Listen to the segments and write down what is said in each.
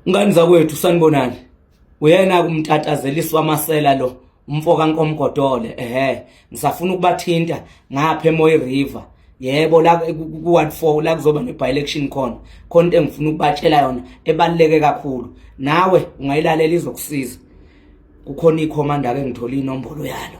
Ngani zakwethu sanibonani uyena kumtatazeliswa amasela lo umfo kankomgodole ehe ngisafuna ukubathinta ngapha emoyi river yebo la ku-ward four la kuzoba ne-by-election khona khona into engifuna ukubatshela yona ebaluleke kakhulu nawe ungayilalela izokusiza kukhona ikhomanda-ke ngithole inombolo yalo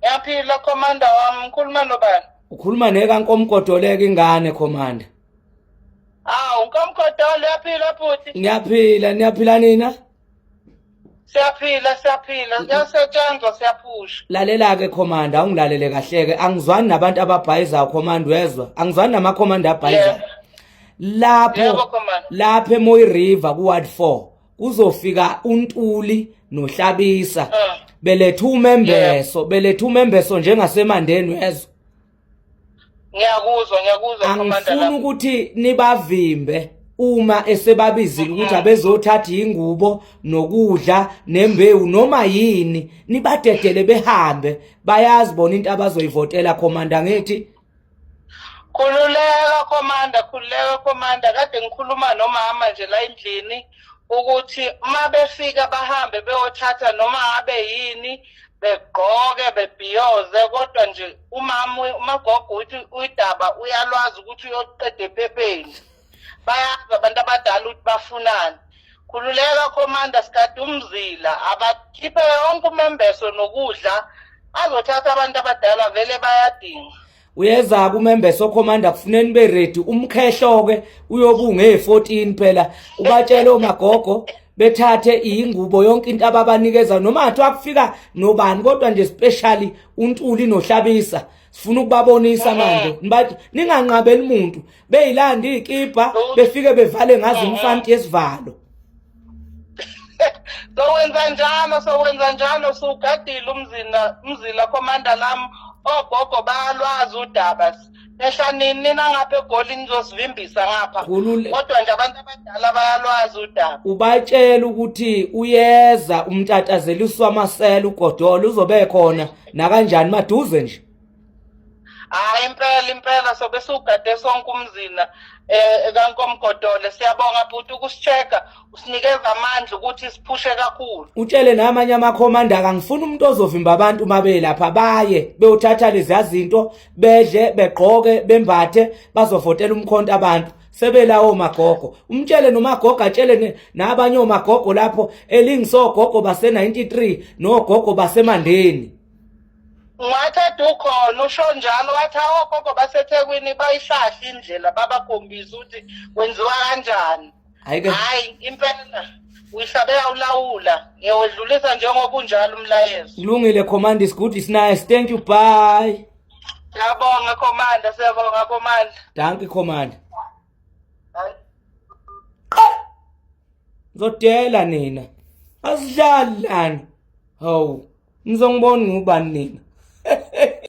Ngiyaphila commander wami ngikhuluma nobani? Ukhuluma neka nkomkodoleka ingane commander. Awu nkomkodolo uyaphila bhuti? Ngiyaphila, niyaphila nina? Siyaphila siyaphila kuyasetshenzwa siyaphusha. Lalela ke commander awungilalele kahle ke angizwani nabantu ababhayizayo commander wezwa angizwani nama commander abhayizayo. Lapho Yebo commander. lapho eMoyi River ku Ward 4 kuzofika uNtuli noHlabisa ah. beletha umembeso beletha umembeso njengasemandeni wezwe ngiyakuzwa ngiyakuzwa commander angifuni ukuthi nibavimbe uma esebabizile ukuthi mm-hmm. abezothatha ingubo nokudla nembewu noma yini nibadedele behambe bayazi bona into abazoyivotela commander ngithi Khululeka komanda, khululeka komanda. Kade ngikhuluma nomama nje la endlini ukuthi uma befika bahambe beyothatha noma abe yini begqoke bebhiyoze kodwa nje umama umagogo uthi uyidaba uyalwazi ukuthi uyoqeda ephepheni. bayazi abantu abadala ukuthi bafunani khululeka commander sikade umzila abakhiphe yonke umembeso nokudla azothatha abantu abadala vele bayadinga uyeza kumembeso commander kufuneni be ready umkhehlo ke uyobunga e14 phela ubatshele omagogo bethathe ingubo yonke into ababanikeza noma athi akufika nobani kodwa nje specially untuli nohlabisa sifuna ukubabonisa manje nibantu ninganqabeli umuntu beyilanda iy'kibha befike bevale ngazo umfanti yesivalo sowenza njalo sowenza njalo sugadile umzila umzila commander lam ogogo bayalwazi udaba ehla nini nina ngapha egoli nizosivimbisa ngapha kodwa nje abantu abadala bayalwazi udaba ubatshela ukuthi uyeza umtatazela uswamasela ugodola uzobe khona nakanjani maduze nje hayi impela impela sobe siwugade sonke umzina um kankomgodole siyabonga bhuti ukusisheka usinikeza amandla ukuthi siphushe kakhulu utshele namanye amakhomanda kangifuni umuntu ozovimba abantu uma belapha baye beyothatha leziya zinto bedle begqoke bembathe bazovotela umkhonto abantu sebelawo magogo umtshele nomagogo atshele nabanye omagogo lapho elingisogogo base-93 nogogo basemandeni Wathi edukhona usho njalo wathi awogogo basethekwini bayihlahla indlela babakhombisa ukuthi kwenziwa kanjani Ayike. hayi impela uyihlabe awulawula ngiyawedlulisa njengoba unjalo umlayezo Kulungile command is good is nice. Thank you. Bye. siyabonga komanda siyabonga komanda Dankie command. Zodela nina. Asidlali lana. Hawu. Nizongibona ngubani nina.